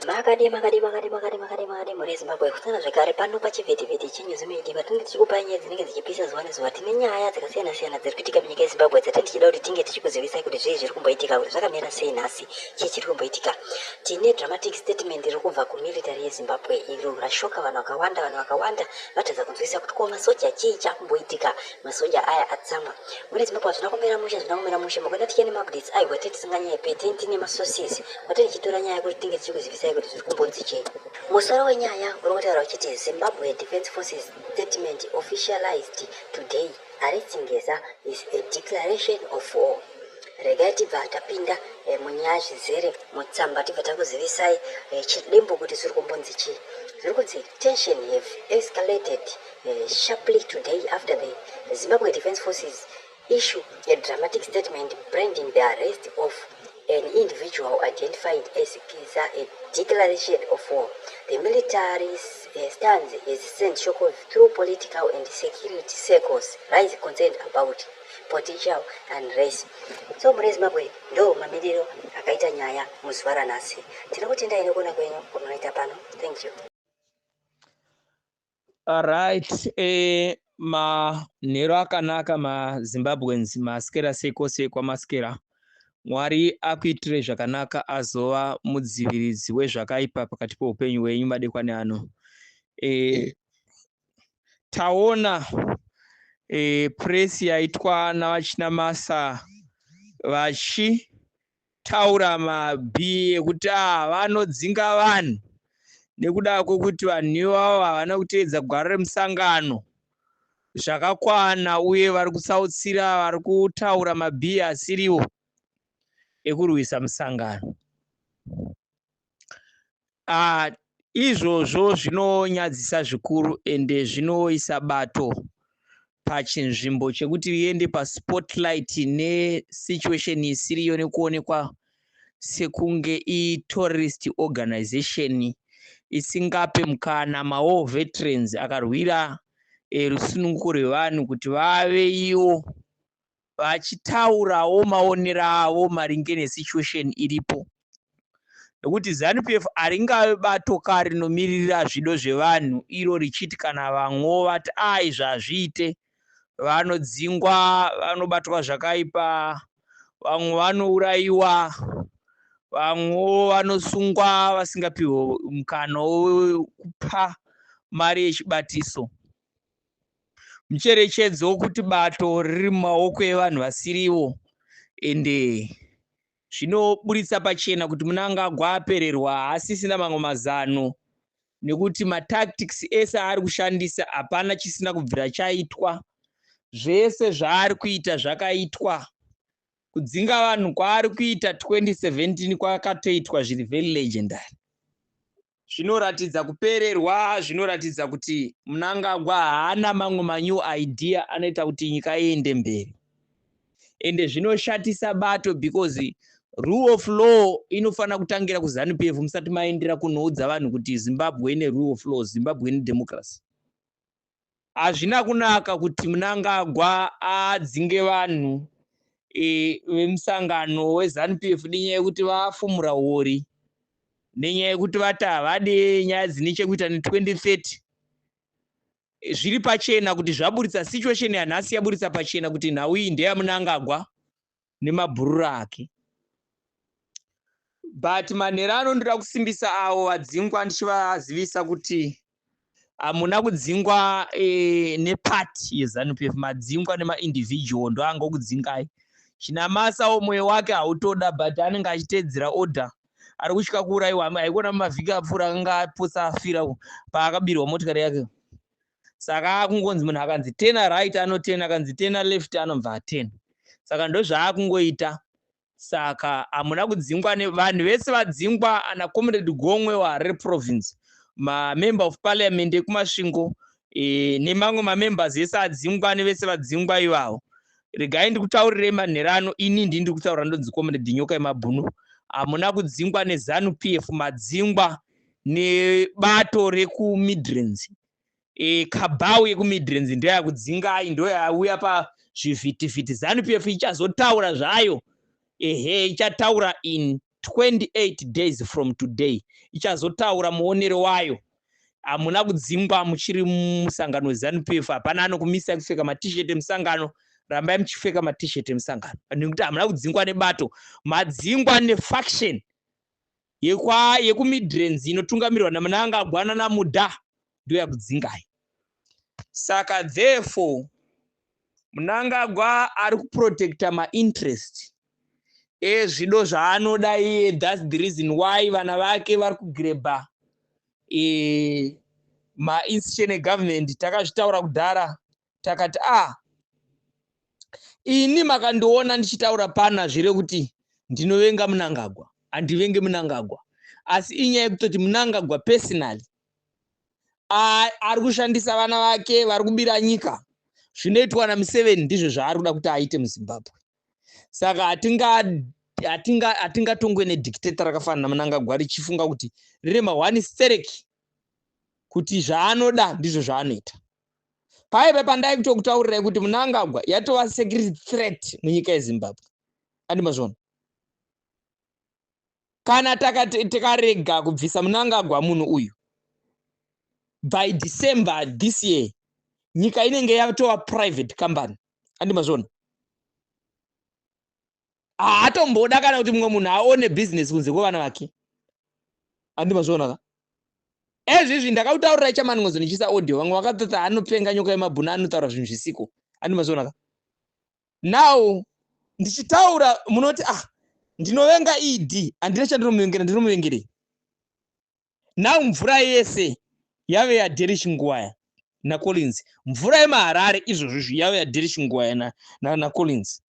Makadii makadii makadii makadii makadii makadii mhuri yeZimbabwe kusana zvekare pano pachivhitivhiti cheNews Media patinenge tichikupai nyaya dzinenge dzichipisa zuva nezuva tine nyaya dzakasiyana siyana dziri kuitika munyika yeZimbabwe dzatenge tichida kuti tinge tichikuzivisai kuti zvii zviri kumboitika kuti zvakamira sei nhasi chii chiri kumboitika tine dramatic statement riri kubva kumilitary yeZimbabwe iro rashoka vanhu vakawanda vanhu vakawanda vatadza kunzwisisa kuti ko masoja chii chakumboitika masoja aya atsamwa Muri Zimbabwe hazvina kumira mushe hazvina kumira mushe makwenda tichene maupdates ayo kwatiri tisinganyepe tini tine masources kwatiri tichitora nyaya kuti tinge tichikuzivisai kuti zviri kumbonzi chei musoro wenyaya uri kutaura uchiti zimbabwe defence forces statement officialized today arrest ngeza is a declaration of war regai tibva tapinda eh, munyaya zvizere mutsamba tibva takuzivisai eh, chidimbo kuti zviri kumbonzi chii zviri kunzi tension have escalated Eh, sharply today after the Zimbabwe Defense Forces issue a dramatic statement branding the arrest of an individual identified as Kiza a declaration of war. The military eh, stands as sent shock through political and security circles rise concern about potential and race. So mune Zimbabwe ndo mamiriro akaita nyaya muzuva ranhasi. Tinokutendayi nekuona kwenyu kunoita pano. Thank you. Alright, eh, manhero akanaka mazimbabweans maskera seko sekwa maskera mwari akuitire zvakanaka azova mudziviridzi wezvakaipa pakati peupenyu hwenyu madekwani ano e, taona e, presi yaitwa navachinamasa vachi taura mabhii ekuti ah, vanodzinga vanhu nekuda kwekuti vanhu ivavo havana kuteedza gwara remusangano zvakakwana uye vari kutsautsira vari kutaura mabhii asiriwo ekurwisa musangano uh, izvozvo zvinonyadzisa zvikuru ende zvinoisa bato pachinzvimbo chekuti riende paspotlight nesituation isiriyo nekuonekwa sekunge iterrorist organization isingape mukana mawar veterans akarwira eh, rusununguko rwevanhu kuti vave iwo vachitaurawo maonero avo maringe nesituation iripo nekuti zanupf haringave bato ka rinomiririra zvido zvevanhu iro richiti kana vamwewo vati a izvi hazviite vanodzingwa vanobatwa zvakaipa vamwe vanourayiwa vamwewo vanosungwa vasingapihwe mukana wekupa mari yechibatiso mucherechedzo wokuti bato riri mumaoko evanhu vasiriwo ende zvinoburitsa pachena kuti munangagwa apererwa haasisina mamwe mazano nekuti matactics ese aari kushandisa hapana chisina kubvira chaitwa zvese zvaari kuita zvakaitwa kudzinga vanhu kwaari kuita 2017 kwakatoitwa zviri very legendary zvinoratidza kupererwa zvinoratidza kuti munangagwa haana mamwe manew idea anoita kuti nyika iende mberi ende zvinoshatisa bato because rule of law inofanira kutangira kuzanupf musati maendera kunoudza vanhu kuti zimbabwe ine rule of law zimbabwe ine democracy hazvina kunaka kuti mnangagwa adzinge vanhu e, vemusangano wezanup f nenyaya yekuti vafumura huori nenyaya yekuti vati havade nyaya dzine chekuita ne2030 zviri pachena kuti zvaburitsa situation yanhasi yaburitsa pachena kuti nhau iyi ndeyamunangagwa nemabhururu ake but manhero ano ndoda kusimbisa avo vadzingwa ndichivazivisa kuti hamuna kudzingwa e, nepati yezanup f madzingwa nemaindividual ndoanga okudzingai chinamasa wo mwoyo wake hautoda but anenge achiteedzera order ari kutya kuurayiwa haikona mumavhiki apfuura akanga apotsa afira paakabirwa motikari yake saka akungonzi munhu akanzi tena right anotena akanzi tena left anobva atena saka ndozvaakungoita saka hamuna kudzingwa vanhu vese vadzingwa ana comrade gomwe waharare province mamember of parliament ekumasvingo e, nemamwe mamembers ese adzingwa nevese vadzingwa ivavo regai ndikutaurirei manhero ano ini ndi ndiri kutaura ndonzi comrade nyoka yemabhunu hamuna kudzingwa nezanu p f madzingwa nebato rekuMidlands e, kabhau yekuMidlands ndoyakudzingai ndoyauya pazvivhitivhiti zanu pf ichazotaura zvayo ehe ichataura in 28 days from today ichazotaura muonero wayo hamuna kudzingwa muchiri musangano wezanu pf hapana anokumisai kupfeka matishet emusangano rambai muchipfeka matishet emusangano nekuti hamuna kudzingwa nebato madzingwa nefaction yekwa yekuMidlands inotungamirwa naMnangagwana naMuda ndoyakudzingai. Saka therefore Mnangagwa ari kuprotecta mainterest ezvido zvaanoda iye thats the reason why vana vake vari kugrebha e, eh, mainstitution egovernment takazvitaura kudhara takati ah ini makandiona ndichitaura pana zvire kuti ndinovenga munangagwa handivenge munangagwa asi inyaya yekutoti munangagwa personally ari kushandisa vana vake vari kubira nyika zvinoitwa namuseveni ndizvo zvaari kuda kuti aite muzimbabwe saka hatingatongwe nedictato rakafanana namunangagwa richifunga kuti rine mahwani stereki kuti zvaanoda ndizvo zvaanoita paive pandai kutokutaurirai kuti munangagwa yatova security threat munyika yezimbabwe andi mazvona kana tikarega kubvisa munangagwa munhu uyu by december this year nyika inenge yatova private company andi mazvona haatomboda kana kuti mumwe munhu aone bhizinesi kunze kwevana vake andi mazviona ka ezvizvi ndakautaurira ichamani ngozi ndichiisa audio vamwe vakatota anopenga nyoka yemabhuna anotaura zvinhu zvisiko andi mazviona ka now ndichitaura munoti ah ndinovenga ed handina chandinomuvengira ndinomuvengerei now mvura yese yave yadirish nguwaya nacollins mvura yemaharare izvozvo izvi yave yadirish nguwaya nacollins na,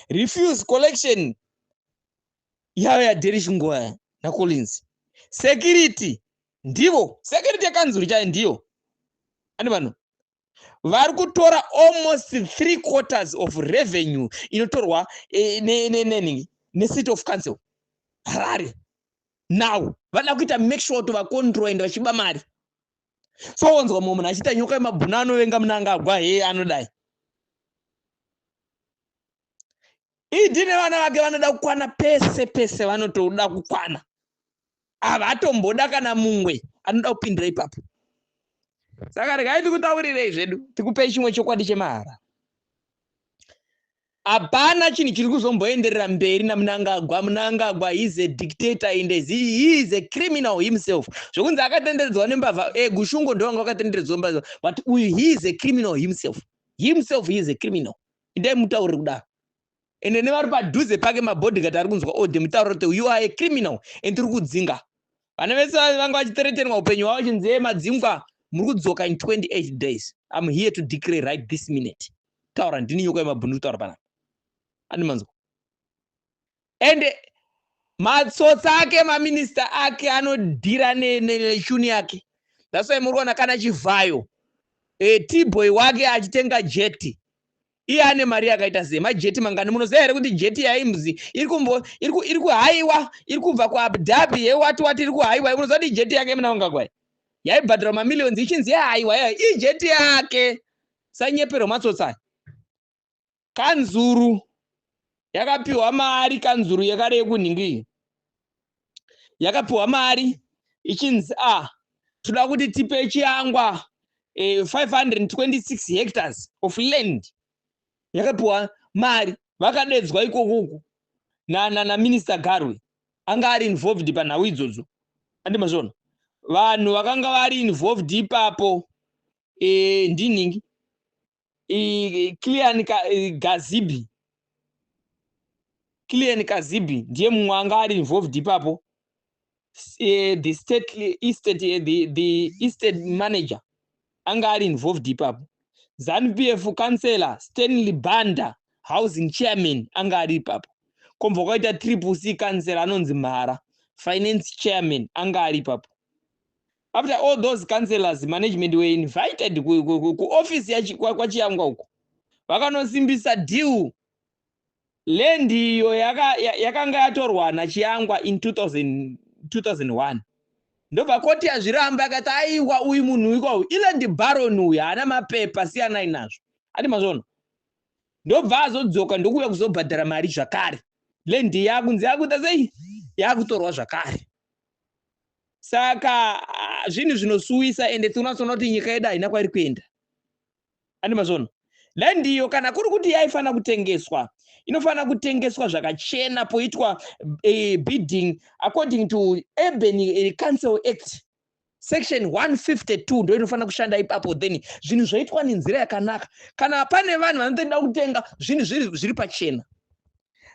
na refuse collection yave yadirish nguwaya nacollins security ndivo security yekanzuru chayo ndiyo ani vanhu vari kutora almost three quarters of revenue inotorwa eh, nenini necity of council harare now vada kuita make sure kuti vacontrol and vachiba mari so wonzwa mumwe munhu achiita nyoka yemabhuna anovenga munanga agwa hee anodai idi nevana vake vanoda kukwana pese pese vanotoda kukwana havatomboda kana mumwe anoda kupindira ipapo saka regai tikutaurirei zvedu tikupei chimwe chokwadi chemahara hapana chinhu chiri kuzomboenderera mberi namunangagwa munangagwa heis a dictator and he is a criminal himself zvokunzi akatenderedzwa nembavha e eh, gushungo ndovanga vakatenderedzwa mbavha but uyu he is a criminal himself himself he is a criminal indai mutauriri kudaro ende nevari padhuze pake mabodyguard ari kunzwa ode mutauro kuti you are a criminal and tiri kudzinga vana vese vanga vachiteretenwa upenyu hwavo chinzee madzingwa muri kudzoka in 28 days im here to declare right this minute taura ndini nyoka yemabhunu kutaura panapa andi manzwa and matsotsi ake maminista ake anodhira neshuni yake that's why muri kuona kana chivhayo e, tboy wake achitenga jeti iye ane mari yakaita sei majeti mangani munoziva here kuti jeti yaimzi iri kumbo iri kuhaiwa iri kubva kuabu dhabi yewati wati iri kuhaiwa munoziva kuti jeti yake muna vangakwai yaibhadhara mamillions ichinzi yahaiwa yayo ijeti yake sanyepero matsotsai kanzuru yakapiwa mari kanzuru yekare yekunhingi yakapiwa mari ichinzi a ah, toda kuti tipe chiyangwa eh, 526 hectares of land yakapiwa mari vakadedzwa ikokuku naminister garwe anga ari involved panhau idzodzo andi mazvona vanhu vakanga vari involved ipapo e, ndinhingi clean gazibi clean kazibi ndiye mumwe anga ari involved ipapo eh, the state estate eh, the, the estate manager anga ari involved ipapo zanu p f councellor stanley banda housing chairman anga ari ipapo komva kwaita triple c councellor anonzi mhara finance chairman anga ari ipapo After all those councillors, management were invited kuoffice ku, ku, ku kwaChiyangwa uko. Vakanosimbisa deal land iyo yakanga yaka yatorwa naChiyangwa in 2000, 2001 ndobva koti yazviramba akati aiwa uyu munhu uyu kwau iland baron uyu haana mapepa siyanai nazvo ati mazvono ndobva azodzoka ndokuuya kuzobhadhara mari zvakare land yakunzi yakuita sei yakutorwa zvakare saka ah, zvinhu zvinosuwisa ende tinonatsoona kuti nyika yedu haina kwairi kuenda andi mazvono dai ndiyo kana kuri kuti yaifanira kutengeswa inofanira kutengeswa zvakachena poitwa e, bidding according to urban eh, council act section 152 ndo inofanira kushanda ipapo then zvinhu zvoitwa nenzira yakanaka kana pane vanhu vanotoda kutenga zvinhu zviri pachena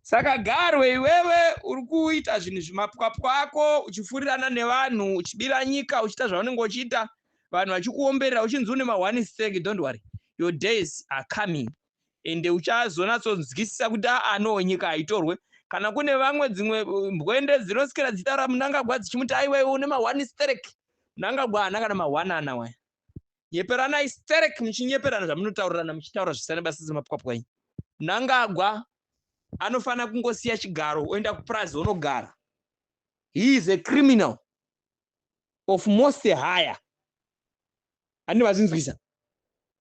Saka Garwe iwewe uri kuita zvinhu zvimapwapwa ako uchifurirana nevanhu uchibira nyika uchiita zvaunenge uchiita vanhu vachikuomberera uchinzi une maone stake don't worry your days are coming ende uchazonatsonzwisisa kuti aa no nyika haitorwe kana kune vamwe dzimwe uh, mbwende dzinosikira dzitaura munangagwa dzichimuti aiwewe une maone stake munangagwa haana kana maone ana waya nyeperanai sterek muchinyeperana zvamunotaurirana muchitaura zvisina basa semapwapwanyi mnangagwa anofanira kungosiya chigaro oenda kupurazi onogara he is a criminal of most higher ani vazinzwisa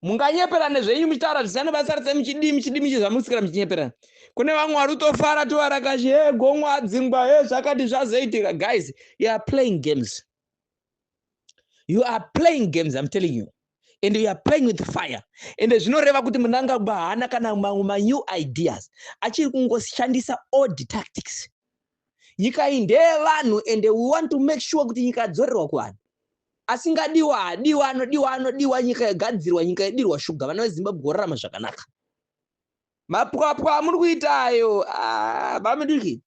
munganyeperane zvenyu muchitaura zvisina basa rese muchidii muchidii muchizvamusikira muchinyeperana kune vamwe vari kutofara tovarakashi he gomwa adzingwa he zvakati zvazoitika guys you are playing games you are playing games i'm telling you and you are playing with fire and zvinoreva kuti munangagwa haana kana mamwe manew ideas achiri kungoshandisa old tactics nyika iyi ndeyevanhu and we want to make sure kuti nyika yadzorerwa kuvanhu asingadiwa hadiwa anodiwa anodiwa nyika yogadzirwa nyika yodirwa shuga vana vezimbabwe vorarama zvakanaka mapwapwa amuri kuita ayo ah, bamidiki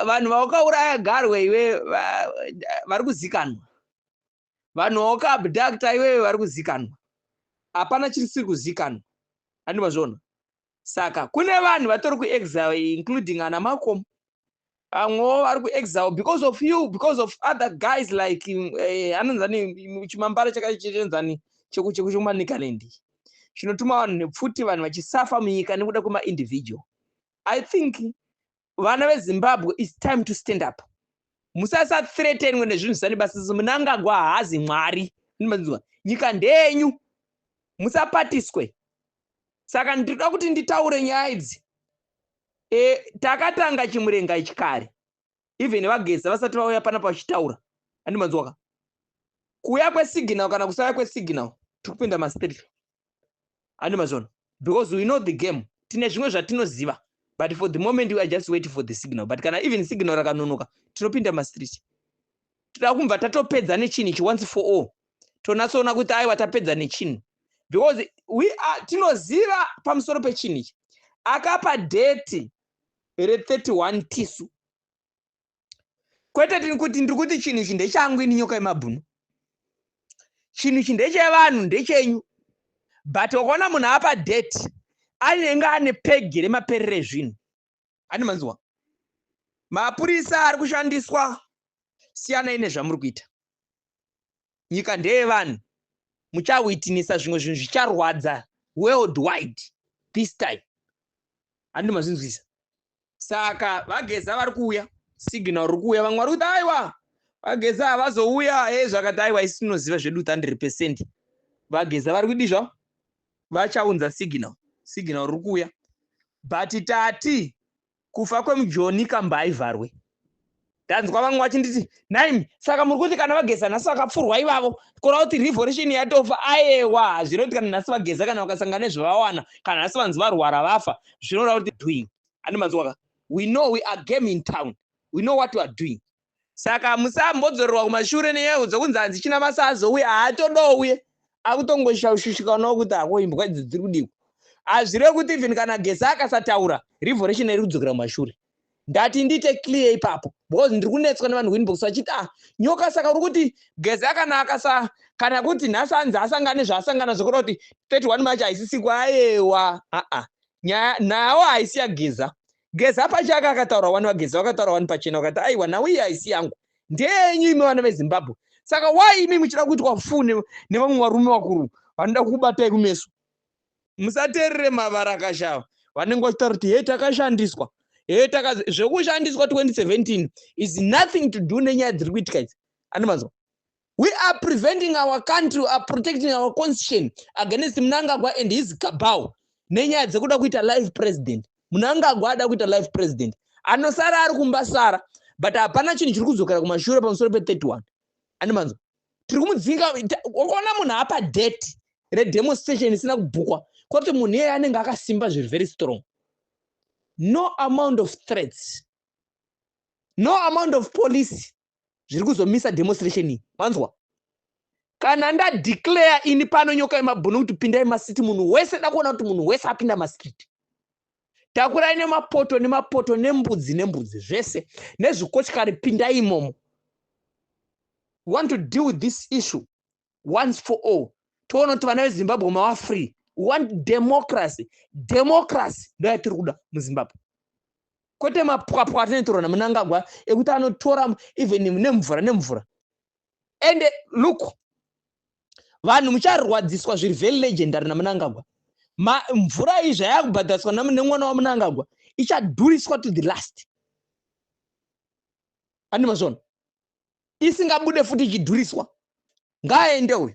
vanhu vaukauraya garwe iwe vari kuzikanwa vanhu vaukaabducta iwewe vari kuzikanwa hapana chirisiri kuzikanwa andi mazviona saka kune vanhu vatori kuexile including ana makomo vamwewo vari kuexile because of you because of other guys like eh, anonzani chimambara chakachenzani chekumanicalend chinotuma vanhu nepfuti vanhu vachisafa munyika nekuda kwemaindividual i think vana vezimbabwe its time to stand up musasathretenwe nezvinhu zvisane basa sisi munangagwa haazi mwari ndimanzwa nyika ndenyu musapatiswe saka ndinoda kuti nditaure nyaya idzi e, takatanga chimurenga ichi kare even vageza vasati vauya panapa vachitaura andimanzwaka kuuya kwesignal kana kusauya kwesignal tiri kupinda maspiritual ane mazono because we know the game tine zvimwe zvatinoziva but for the moment we are just waiting for the signal but kana even signal rakanonoka tinopinda mastreet tinoda kumva tatopedza nechinhu ichi once for all tonatsoona kuti aiwa tapedza nechinhu because we are tinoziva pamusoro pechinhu ichi akapa deti re 31 tisu kwete tiri kuti ndiri kuti chinhu ichi ndechangu ini nyoka yemabhunu chinhu ichi ndechevanhu ndechenyu but wakaona munhu apa date anenge ane pegi remaperere ezvinhu ani manziwa mapurisa ari kushandiswa siyanai nezvamuri kuita nyika ndeyevanhu muchawitnisa zvimwe zvinhu zvicharwadza world wide this time handi mazvinzwisa saka vageza vari kuuya signal riri kuuya vamwe vari kuti aiwa vageza havazouya e zvakati aiwa isi tinoziva zvedu 100 percent vageza vari kudi zvavo vachaunza signal signal riri kuuya but tati kufa kwemujoni kambaivharwe ndanzwa vamwe vachinditi naim saka muri kuti kana vageza nhasi vakapfurwa ivavo kora kuti revolution yatofa ayewa hazvino kuti kana nhasi vageza kana vakasangana nezvavawana kana nhasi vanzi varwara vafa zvinoda kuti doing ane manzwaka we know we are game in town we know what we are doing saka hamusambodzorerwa kumashure nenyaya yekudzwa kunzi hanzi china masa azouya haatodouye akutongoshaushishikanawo kuti hako imbwa idzi dziri kudiko hazvireve kuti even kana gesi akasataura revolution iri kudzokera kumashure ndati ndiite clear ipapo because ndiri kunetswa nevanhu kuinbox vachiti ah nyoka saka uri kuti gezi akanaka sa kana kuti nhasi anzi asangane zvaasangana zvokuda kuti 31 march haisisiku ayewa aa nyaya nawo haisi yageza geza pachake akataura wani vageza vakataura wani pachena vakati aiwa nhau iyi haisi yangu ndeyenyu imi vana vezimbabwe saka why imi muchida kuitwa fu nevamwe varume vakuru vanoda kukubatai kumeso musateerere mavara akashava vanenge vachitaura kuti he takashandiswa he taka zvekushandiswa 2017 is nothing to do nenyaya dziri kuitika idzi andimanzwa We are preventing our country, we are protecting our constitution against Mnangagwa and his cabal. Nenyaya dzekuda kuita live president. Mnangagwa ada kuita live president. Anosara ari kumba sara, but hapana chinhu chiri kudzokera kumashure pamusoro pe 31. Ani manzo. Tiri kumudzinga ukaona munhu apa date re demonstration isina kubhukwa, kwati munhu iye anenge akasimba zviri very strong. No amount of threats. No amount of police zviri kuzomisa demonstration iyi manzwa kana ndadeclare ini pano nyoka yemabhunu kuti pindai masiti munhu wese dakuona kuti munhu wese apinda mastreet takurai nemapoto nemapoto nembudzi nembudzi zvese nezvikochikari pindai imomo want to deal with this issue once for all toona kuti vana vezimbabwe mava free we want democracy democracy ndo yatiri kuda muzimbabwe kwete mapwapwa atinotorwa namunangagwa ekuti anotora even nemvura nemvura and look vanhu mucharwadziswa zviri very legendary namunangagwa mvura iyi zvayakubhadhariswa nemwana wamunangagwa ichadhuriswa to the last andi mazvona isingabude futi ichidhuriswa ngaaende uyu